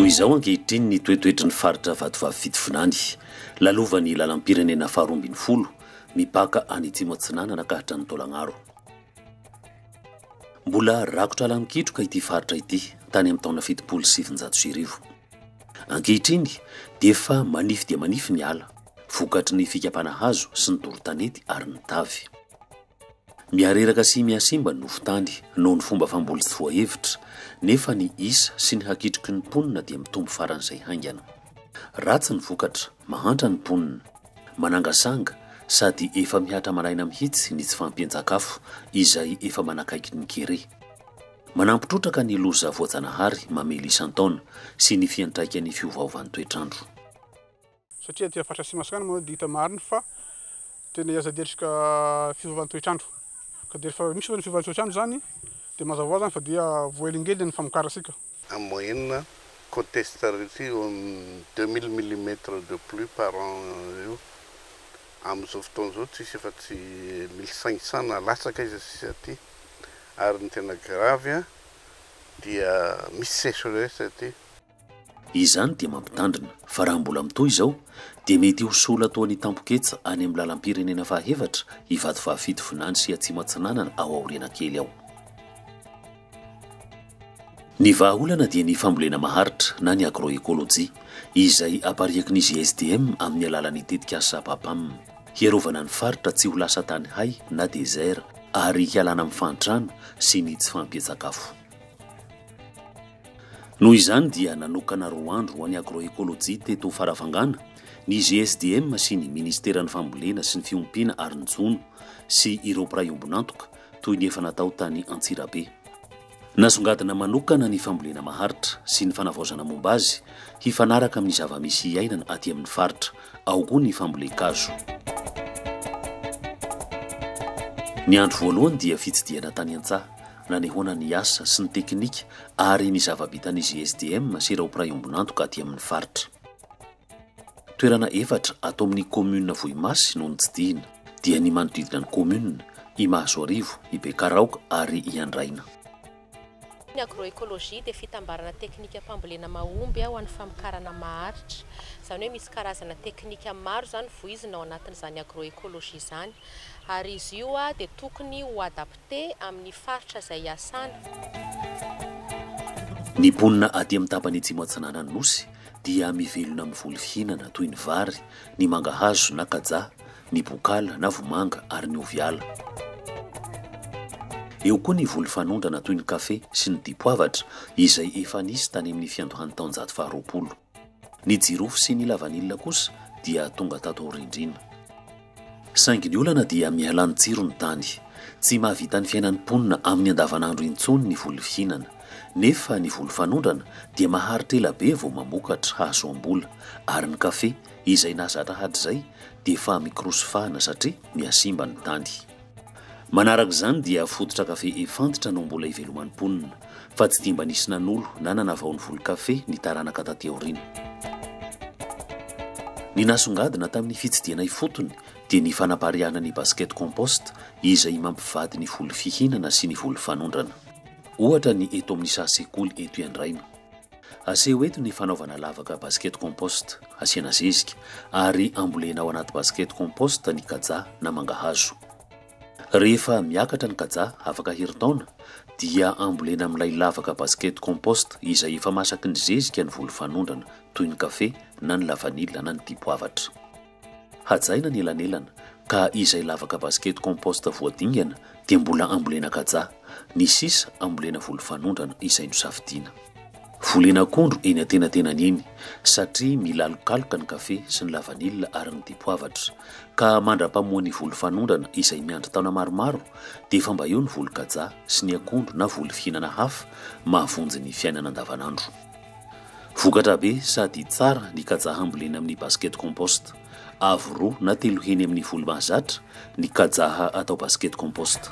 Toy izao ankehitriny ny toetoetry ny faritra Vatovavy Fitovinany. Lalovan'ny lalam-pirenena faharoa ambin'ny folo, mipaka any Atsimo Atsinanana ka hatrany Taolagnaro. Mbola rakotra ala mikitroka ity faritra ity tany amin'ny taona fitopolo sy sivinjato sy arivo. Ankehitriny dia efa manify dia manify ny ala. vokatry ny fikapana hazo sy ny doro tanety ary ny tavy. Mihareraka sy mihasimba ny nofon-tany noho ny fomba famboly tsy voahevitra, nefa ny isa sy ny hakitroky ny mponina dia mitombo faran'izay haingana. Ratsy ny vokatra, mahantra ny mponina, manangasanga sady efa mihatra maraina mihitsy ny tsy fahampian-tsakafo izay efa manakaiky ny kere. Manampy trotraka ny loza voajanahary mamely isan-taona sy ny fiantraikan'ny fiovaovan'ny toetr'andro. satria aty faritra Atsimo Masina moa dia hita marina fa tena ery sady ery ka fiovan'ny toetr'andro ka dia rehefa misy izany fiovan'ny toetr'andro izany dia mazava ho azy izany fa dia voahelingelina ny famokarantsika. En moyenne, contestarity eo amin'ny deux mille millimètres de pluie par an eo. Amin'izao fotoana izao tsy hisy afa tsy mille cinq cents na latsaka aiza sisa aty. Ary ny tena grave dia misy sécheresse aty. Izany dia mampitandrina fa raha mbola mitohy izao dia mety ho soa latoan'ny tampoketsa any amin'ny lalam-pirenena fahefatra Ivato fahafito Vinany sy Atsimo Atsinanana ao aoriana kely ao. Ny vahaolana dia ny fambolena maharitra na ny agroekolojia, izay apariaky ny GSDM amin'ny alalan'ny tetikasa PAPAM. Hiarovana ny faritra tsy ho lasa tany hay na désert ary hialana amin'ny fahantrana sy ny tsy fahampian-tsakafo. Noho izany dia nanokana roa andro ho an'ny Agroecologie teto Farafangana ny GSDM sy ny Ministeran'ny Fambolena sy ny Fiompiana ary ny Jono sy ireo mpiray ombon'antoka toy ny efa natao tany Antsirabe. Nasongadina manokana ny fambolena maharitra sy ny fanavaozana momba azy hifanaraka amin'ny zava-misy iainana aty amin'ny faritra. Ao koa ny fambolen-kazo. Ny andro voalohany dia fitsidihana tany an-tsaha. nanehoana ny asa sy ny teknika ary ny zava-bitan'izy SDM sy ireo mpiray ombon'antoka aty amin'ny faritra. Toerana efatra ato amin'ny kaominina Vohimasy no notsidihina, dia ny manodidina ny kaominina, i Mahazoarivo, i Bekaraoka ary i Andraina. Ny agroecologie dia fitambarana teknika fambolena mahomby ho an'ny famokarana maharitra. Izany hoe misy karazana teknika maro izany voizina ao anatin'izany agroecologie izany ary izy io dia tokony ho adapter. te amin'ny faritra izay iasana. Ny mponina aty amin'ny tapany atsimo atsinanan'ny Nosy dia mivelona amin'ny voly fihinana toy ny vary, ny mangahazo na kaja, ny bokala na vomanga ary ny ovy ala. Eo koa ny voly fanondrana toy ny kafe sy ny dipoavatra izay efa nisy tany amin'ny fiandohan'ny taonjato faharoapolo. Ny jirofo sy ny lavanila kosa dia tonga tato aorindriana. Saingy ny olana dia mihalà ny tsiro ny tany. Tsy mahavita ny fiainan'ny mponina amin'ny andavanandro intsony ny voly fihinana. Nefa ny voly fanondrana dia maharitra ela be vao mamokatra hahazoam-bola. Ary ny kafe, izay nahazatra hatrizay, dia efa mikorosy fahana satria mihasimba ny tany. Manaraka izany dia fototra kafe efantitra no mbola iveloman'ny mponina, fa tsy dia mba nisy nanolo na nanavao ny volon-kafe ny taranaka taty aoriana. Ny nasongadina tamin'ny fitsidihana ifotony dia ny fanapariahana ny basket compost izay mampivady ny voly fihinana sy ny voly fanondrana. Ohatra ny eto amin'ny saha sekoly eto iandraina. Aseho eto ny fanaovana lavaka basket compost. Asiana zezika ary ambolena ao anaty basket compost ny kaja na mangahazo. Rehefa miakatra ny kaja afaka herintaona dia ambolena amin'ilay lavaka basket compost izay efa masaky ny zezika ny volofanondrana toy ny kafe na ny lavanila na ny dipoavatra. Hajaina ny elanelana ka izay lavaka basket compost voadingana dia mbola ambolena kaja, ny sisa ambolena voly fanondrana izay nosafidiana. Volena akondro eny antenatenany eny satria milalokaloka ny kafe sy ny lavanila ary ny dipoavatra ka mandra-pamoa ny voly fanondrana izay miandry taona maromaro dia efa mba eo ny voly kaja sy ny akondro na voly fihinana hafa mahavonjy ny fiainana andavanandro. Vokatra be sady tsara ny kajaha ambolena amin'ny basket compost. Avo roa na telo heny amin'ny folo mahazatra ny kajaha atao basket compost.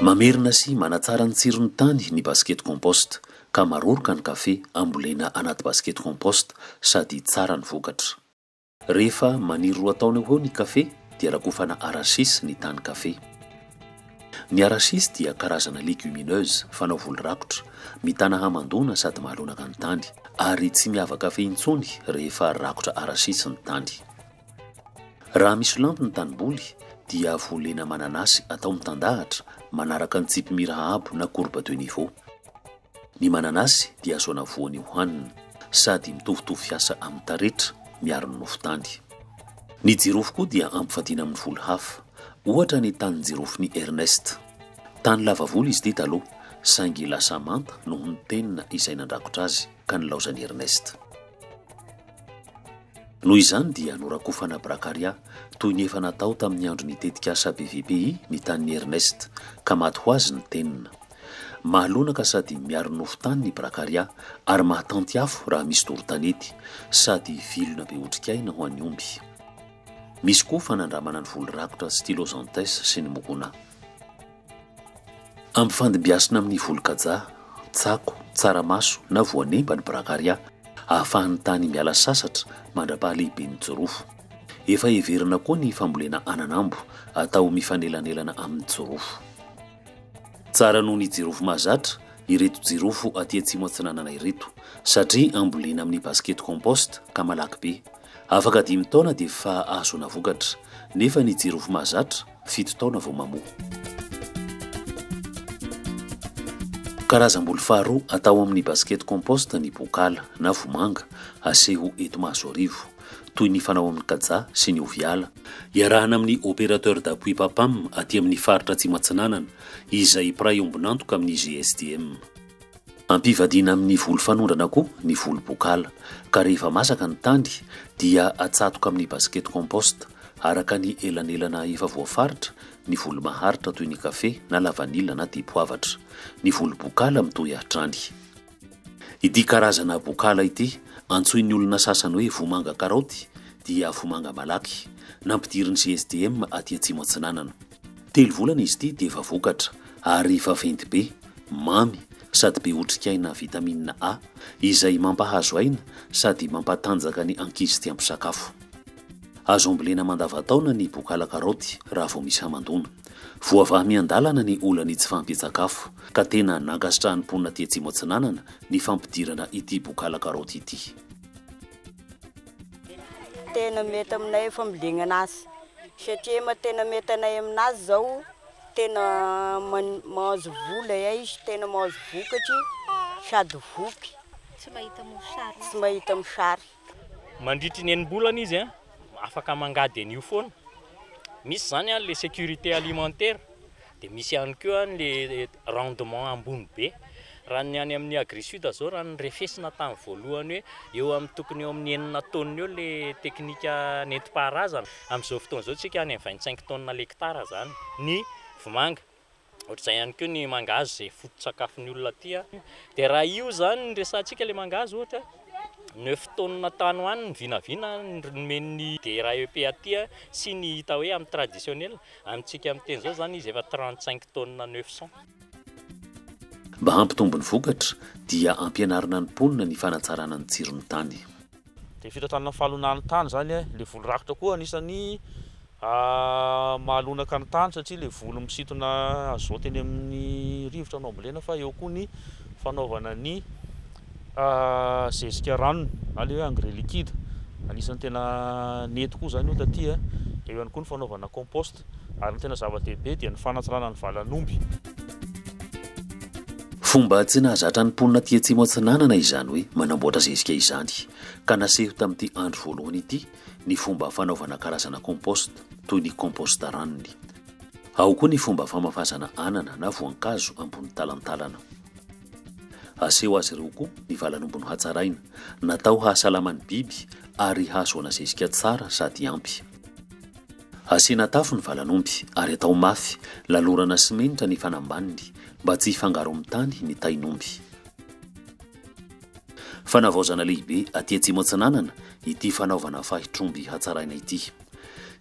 Mamerina sy manatsara ny tsiron'ny tany ny basket compost ka maroroka ny kafe ambolena anaty basket compost sady tsara ny vokatra. Rehefa maniry roa taona eo ho eo ny kafe dia rakofana arachis ny tany kafe. Ny arachis dia karazana legumineuse fanao voly rakotra, mitana hamandoana sady mahalonaka ny tany, ary tsy miava kafe intsony rehefa rakotra arachis ny tany. Raha misolampy ny tanimboly dia volena mananasy atao mitandahatra manaraka ny tsipimira haabo na courbe de niveau. Ny mananasy dia azo anavoany hohanina, sady mitovitovy fiasa amin'ny taretra, miaro ny nofo tany. Ny jirofo koa dia ampivadiana amin'ny volo hafa, ohatra ny tanin-jirofon'i Ernest. Tany lava volo izy ity taloha, saingy lasa manta noho ny penina izay nandrakotra azy ka nilaozan'i Ernest. Noho izany dia norakofana Bracaria, toy ny efa natao tamin'ny andron'ny tetikasa BVPI ny tanin'i Ernest, ka maty ho azy ny tenona. Mahalonaka sady miaro nofo tany ny Bracharia ary mahatanty afo raha misy doro tanety, sady vilona be otrikaina ho an'ny omby. Misy koa fanandramana ny voly rakotra Stylosanthes sy ny Mucuna. Ampifandimbiasina amin'ny voly kaja, tsako, tsaramaso na voanemba ny Bracharia ahafahan'ny tany miala sasatra mandra-pahalehiben'ny jirofo. Efa heverina koa ny fambolena ananambo atao mifanelanelana amin'ny jirofo. Tsara noho ny jirofo mahazatra ireto jirofo aty atsimo atsinanana ireto satria ambolena amin'ny basket compost ka malaky be. Afaka dimy taona dia efa ahazoana vokatra nefa ny jirofo mahazatra fito taona vao mamoa. Karazam-boly faharoa atao amin'ny basket compost ny bokala na vomanga aseho eto Mahazoarivo. toy ny fanao amin'ny kaja sy ny oviala. Iarahana amin'ny Opérateur d'Appui PAPAM aty amin'ny Faritra Atsimo Atsinanana, izay mpiray ombon'antoka amin'ny GSDM. Ampivadiana amin'ny voly fanondrana koa ny voly bokala, ka rehefa masaka ny tany dia atsatoka amin'ny basket compost, araka ny elanelana efa voafaritra, ny voly maharitra toy ny kafe na lavanila na dipoavatra. Ny voly bokala mitohy hatrany. Ity karazana bokala ity, antsoin'ny olona sasany hoe vomanga karaoty, dia vomanga malaky, nampidirin'ny GSDM aty Atsimo Atsinanana. Telo volana izy ity dia efa vokatra, ary vaventy be, mamy, sady be otrikaina vitamine A, izay mampahazo aina sady mampatanjaka ny ankizy tia misakafo. Azo ambolena mandavantaona ny bokala karaoty raha vao misy hamandoana. Voavaha miandalana ny olan'ny tsy fahampian-tsakafo, ka tena nankasitrahan'ny mponina aty Atsimo Atsinanana ny fampidirana ity bokala karaoty ity. Tena mety aminay ny fambolenana azy satria ma tena mety anay aminazy izao tena man- mahazo vola ay, tena mahazo vokatry sady voky, tsy mahita mosary. Mandritry ny enim-bolana izy afaka mangady an'io foana. Misy izany ilay sécurité alimentaire, dia misy ihany koa ilay rendement ambony be. Raha ny any amin'ny Agrisud izao raha ny refesina tamin'ny voalohany hoe eo amin'ny tokony eo amin'ny enina taonina eo ilay teknika nentim-paharazana, amin'izao fotoana izao isika any amin'ny vingt cinq taonina l'hectare izany ny vomanga. Ohatr'izay ihany koa ny mangahazo izay foto-tsakafon'ny olona aty. Dia raha io izany no resahantsika ilay mangahazo ohatra, neuf tonnes tany ho any ny vinavina nomen'ny DRAEP aty sy ny hita hoe amin'ny traditionnel, amintsika amin'ny teny izao izany izy efa trente cinq tonnes neuf cents. Mba hampitombo ny vokatra dia ampianarina ny mponina ny fanatsarana ny tsiron'ny tany. Dia fitantana ny fahalonan'ny tany izany e, ilay voly rakotra koa anisan'ny mahalonaka ny tany satria ilay voly misintona azote eny amin'ny rivotra no ambolena fa eo koa ny fanaovana ny zezika ranony na ilay hoe engrais liquide, anisan'ny tena nety koa izany io taty e, eo ihany koa ny fanaovana compost. ary ny tena zava-dehibe dia ny fanatsarana ny valan'omby. Fomba tsy nahazatra ny mponina aty Atsimo Atsinanana izany hoe manamboatra zezika izany, ka naseho tamin'ity andro voalohany ity ny fomba fanaovana karazana compost toy ny compost ranony. Ao koa ny fomba famafazana anana na voankazo ambony talantalana. Aseho azy ireo koa ny valan'omby nohatsaraina, natao hahasalama ny biby ary hahazoana zezika tsara sady ampy. Asiana tafo ny valan'omby ary atao mafy, lalorana simenitra ny fanambaniny mba tsy hifangaron'ny tany ny tain'omby. Fanavaozana lehibe aty Atsimo Atsinanana ity fanaovana fahitr'omby hatsaraina ity.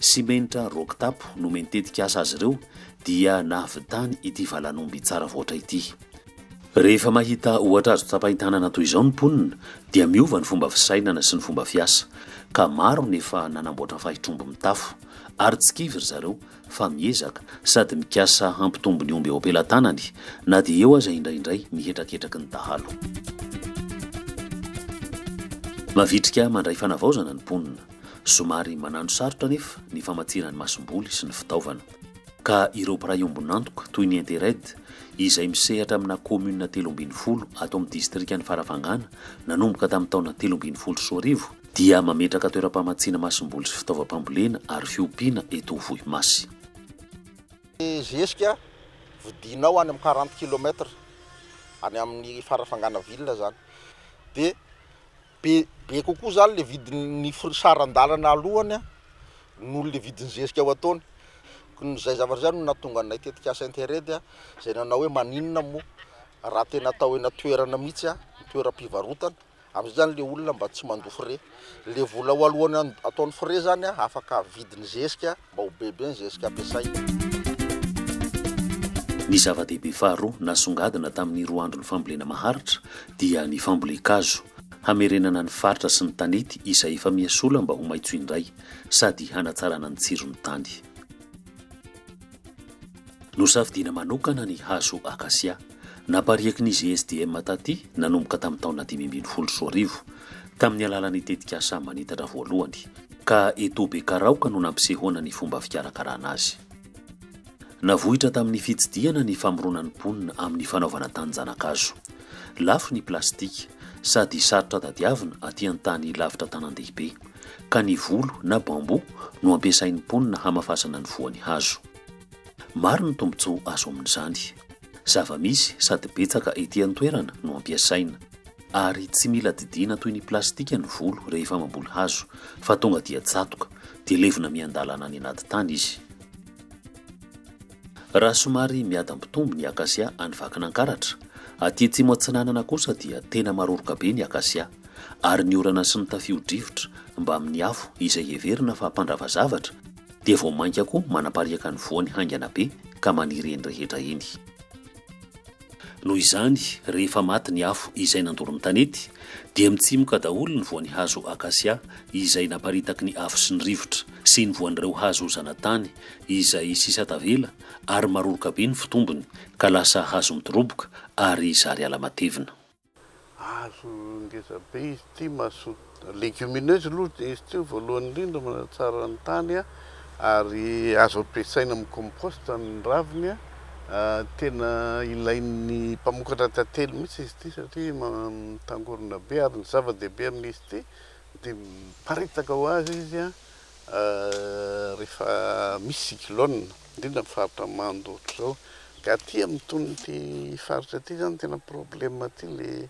Simenitra roc-tapo nomen'ny tetikasa azy ireo dia nahavitany ity valan'omby tsara voatra ity. Rehefa mahita ohatra azo tsapain-tanana toy izao ny mponina dia miova ny fomba fisainana sy ny fomba fiasa ka maro ny efa nanamboatra fahitr'omby mitafo ary tsy kivy ry zareo fa miezaka sady mikasa hampitombo ny omby eo am-pelatanany na dia eo aza indraindray ny hetraketraky ny dahalo. Mavitrika mandray fanavaozana ny mponina. Somary manano sarotra anefa ny famatsiana ny masomboly sy ny fitaovana. ka ireo mpiray ombon'antoka toy ny Intered izay misehatra amina kaominina telo ambin'ny folo ato amin'ny distrikan'i Farafangana nanomboka tamin'ny taona telo ambin'ny folo sy roa arivo dia mametraka toeram-pamatsiana masomboly sy fitaovam-pambolena ary fiompiana eto Ivohimasy. Ny zezika vidinao any amin'ny quarante kilomètre any amin'ny Farafangana ville zany dia. Be be kokoa izany le vidin'ny fr saran-dalana alohany a, noho le vidin'ny zezika ao an-taona. Koa izay zavatra izay no nahatonga anay tetikasa Interred a, izay nanao hoe maninona moa raha tena atao eny an-toerana mihitsy a, toeram-pivarotana, am'zay zany le olona mba tsy mandoa frais. Le vola ao alohany ataony frais zany a, afaka vidin'ny zezika, Mba ho bebe ny zezika ampiasaina. Ny zava-dehibe faharoa nasongadina tamin'ny roa andron'ny fambolena maharitra dia ny fambolen-kazo, hamerenana ny faritra sy ny tanety izay efa miha sola mba ho maitso indray sady hanatsarana ny tsiron'ny tany. Nosafidiana manokana ny hazo akasia. Napariaky ny GSDM taty nanomboka tamin'ny taona dimy ambin'ny folo sy roa arivo, tamin'ny alalan'ny tetikasa Manitatra voalohany, ka eto Bekaraoka no nampisehoana ny fomba fikarakarana azy. Navoitra tamin'ny fitsidihana ny famoronan'ny mponina amin'ny fanaovana tanin-janakazo. Lafo ny plastika, sady sarotra tadiavina aty an-tany lavitra tanàndehibe, ka ny volo na bambou no ampiasain'ny mponina hamafasana ny voan'ny hazo. Maro ny tombontsoa azo amin'izany. Zava-misy sady betsaka ety an-toerana no ampiasaina. Ary tsy mila didiana toy ny plastika ny volo rehefa mamboly hazo fa tonga dia tsatoka dia levona miandalana any anaty tany izy. Raha somary miadam-pitombo ny akasia any Vakinankaratra, aty Atsimo Atsinanana kosa dia tena maroroka be ny akasia, ary ny orana sy ny tafio-drivotra mbamin'ny afo izay heverina fa mpandrava zavatra dia vao mainka koa manapariaka ny voany haingana be ka maniry eny rehetra eny. Noho izany, rehefa maty ny afo izay nandoro ny tanety, dia mitsimoka daholo ny voan'ny hazo akasia izay naparitaky ny afo sy ny rivotra, sy ny voan'ireo hazo zanatany izay sisa tavela, ary maroroka be ny fitombony, ka lasa hazo midoroboka ary zary ala matevina. Hazo ngeza be izy ity, mazotoa legumineuse aloha izy ity voalohany indrindra, manatsara ny tany ary azo ampiasaina amin'ny compost ny raviny, tena ilain'ny mpamokatra tantely mihitsy izy ity satria mitangorona be ary ny zava-dehibe amin'izy ity dia miparitaka ho azy izy rehefa misy cyclone indrindra am faritra mando ohatry zao de aty am tony ty faritra ty zany tena problème aty le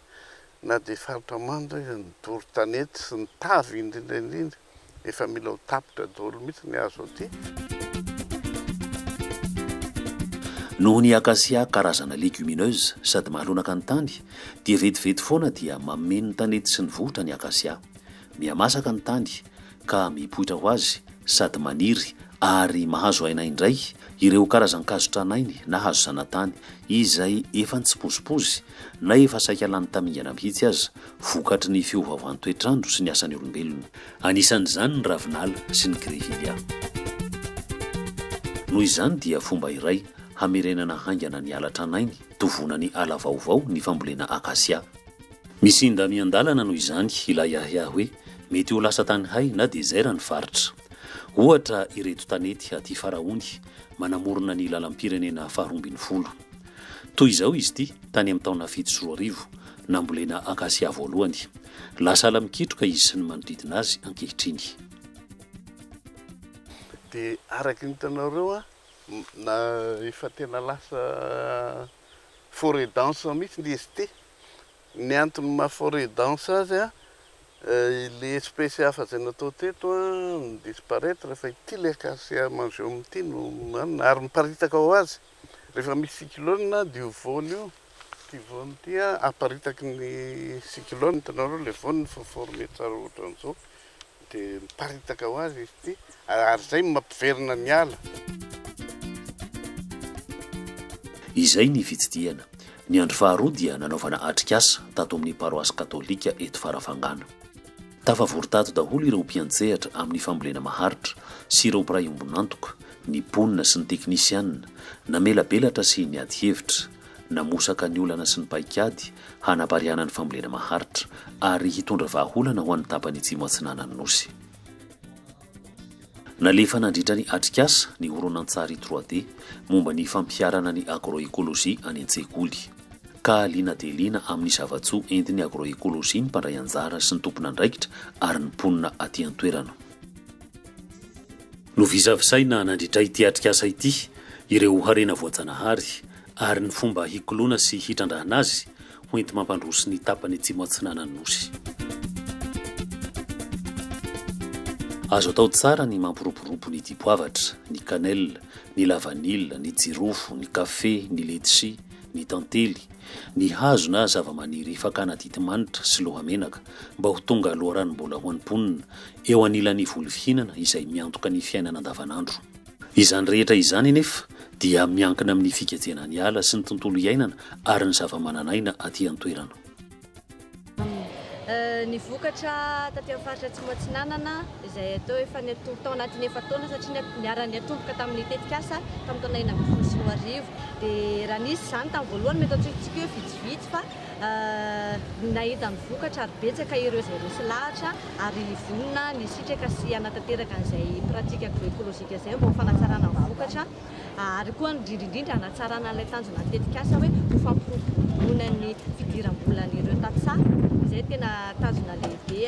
na de faritra mando aza ny doro tanety sy ny tavy indrindra indrindra efa mila ho tapitra daholo mitsy ny hazo aty. Noho ny acacia karazana legumineuse sady mahalonaka ny tany dia vetivety foana dia mameno ny tanety sy ny vohotra ny acacia. Mihamasaka ny tany ka mipoitra ho azy sady maniry ary mahazo aina indray ireo karazan-kazo tranainy na hazo zanatany izay efa nitsipozipozy na efa saika lany tamingana mihitsy aza vokatry ny fiovaovan'ny toetr'andro sy ny asan'ny olombelona. Anisan'izany ny ravinala sy ny grevillea. Noho izany dia fomba iray hamerenana haingana ny ala tranainy tovonan'ny ala vaovao ny fambolena akasia. Misy inda miandalana noho izany ilay ahiahy hoe mety ho lasa tany hay na dezera ny faritra. Ohatra ireto tanety aty Faraony manamorona ny lalam-pirenena faharoa ambin'ny folo. Toy izao izy ity tany amin'ny taona fito sy roa arivo, nambolena akasia voalohany. Lasa ala mikitroka izy sy ny manodidina azy ankehitriny. Dia araka ny hitanareo na efa tena lasa forêt dense mihitsy ny izy ity. Ny antony maha forêt dense azy, ilay espèce hafa izay natao teto no disparaître fa ity ilay acacia mangium ity no manana ary miparitaka ho azy rehefa misy cyclone dia io voany io, ity voany ity aparitaky ny cyclone, hitanareo ilay voany efa former tsara ohatran'izao, Dia miparitaka ho azy izy ity ary izay no mampiverina ny ala. Izay ny fitsidihana. Ny andro faharoa dia nanaovana atrikasa tato amin'ny paroasy katolika eto Farafangana. Tafavory tato daholo ireo mpiantsehatra amin'ny fambolena maharitra sy ireo mpiray ombon'antoka, ny mponina sy ny teknisianina, namelabelatra sy niady hevitra. namosaka ny olana sy ny paikady hanapariahana ny fambolena maharitra ary hitondra vahaolana ho an'ny tapany Atsimo Atsinanan'ny Nosy. Nalefa nandritra ny atrikasa ny horonantsary trois D momba ny fampiharana ny agroekolojia any an-tsekoly, ka liana dia liana amin'ny zava-tsoa entin'ny agroekolojia ny mpandray anjara sy ny tompon'andraikitra ary ny mponina aty an-toerana. Novisavisaina nandritra ity atrikasa ity ireo harena voajanahary ary ny fomba hikoloana sy hitrandrahana azy ho enti-mampandroso ny tapany atsimo atsinanan'ny Nosy. Azo atao tsara ny mampiroborobo ny dipoavatra, ny cannelle, ny la vanille, ny jirofo, ny kafe, ny letchi, ny tantely, ny hazo na zava-maniry fakana titi-manitra sy lohamenaka mba ho tonga loharanom-bola ho an'ny mponina eo anilan'ny voly fihinana izay miantoka ny fiainana andavanandro. Izany rehetra izany anefa dia miankina amin'ny fikajena ny ala sy ny tontolo iainana ary ny zavamananaina aty an-toerana. Ny vokatra taty amin'ny faritra Atsimo Atsinanana izay atao hoe fanetom-po tao anatin'ny efa-taona satria niharan'ny atomboka tamin'ny tetikasa tamin'ny taona enina ambin'ny folo sy roa arivo dia raha nisy izany tamin'ny voalohany mety antsointsika hoe vitsivitsy fa Nahita ny vokatra ary betsaka ireo izay resy lahatra ary vonona ny hisitraka sy hanatanteraka an'izay pratika agroekolojika izay mba ho fanatsarana ny vokatra ary koa indrindra indrindra hanatsarana an'ilay tanjonan'ny tetikasa hoe ho fampiroboroboana ny fidiram-bolan'ireo tantsaha izay tena tanjona lehibe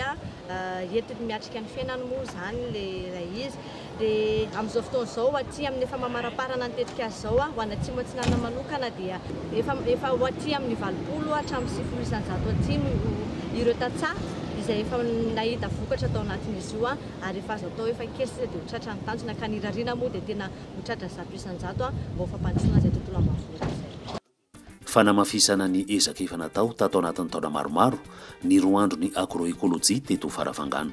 entiny miatrika ny fiainany moa izany ilay izy. dia amin'izao fotoana izao aty amin'ny efa mamaramparana ny tetikasa izao ho an'ny Atsimo Atsinanana manokana dia efa efa ho aty amin'ny valopolo hatramin'ny sivifolo isanjato aty no ireo tantsaha izay efa nahita vokatra tao anatin'izy io ary efa azo atao efa kely sisa dia ho tratra ny tanjona ka ny irariana moa dia tena ho tratra zato isanjato mba ho fampandrosoana izay tontolo ambanivohitra izay. Fanamafisana ny ezaka efa natao tato anatin'ny taona maromaro ny roa andron'ny Agroecologie teto Farafangana.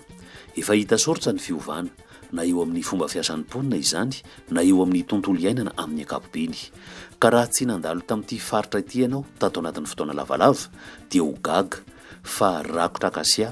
Efa hita soritra ny fiovana, na eo amin'ny fomba fiasan'ny mponina izany, na eo amin'ny tontolo iainana amin'ny ankapobeny. Ka raha tsy nandalo tamin'ity faritra ity ianao tato anatin'ny fotoana lavalava dia ho gaga fa rakotra akasia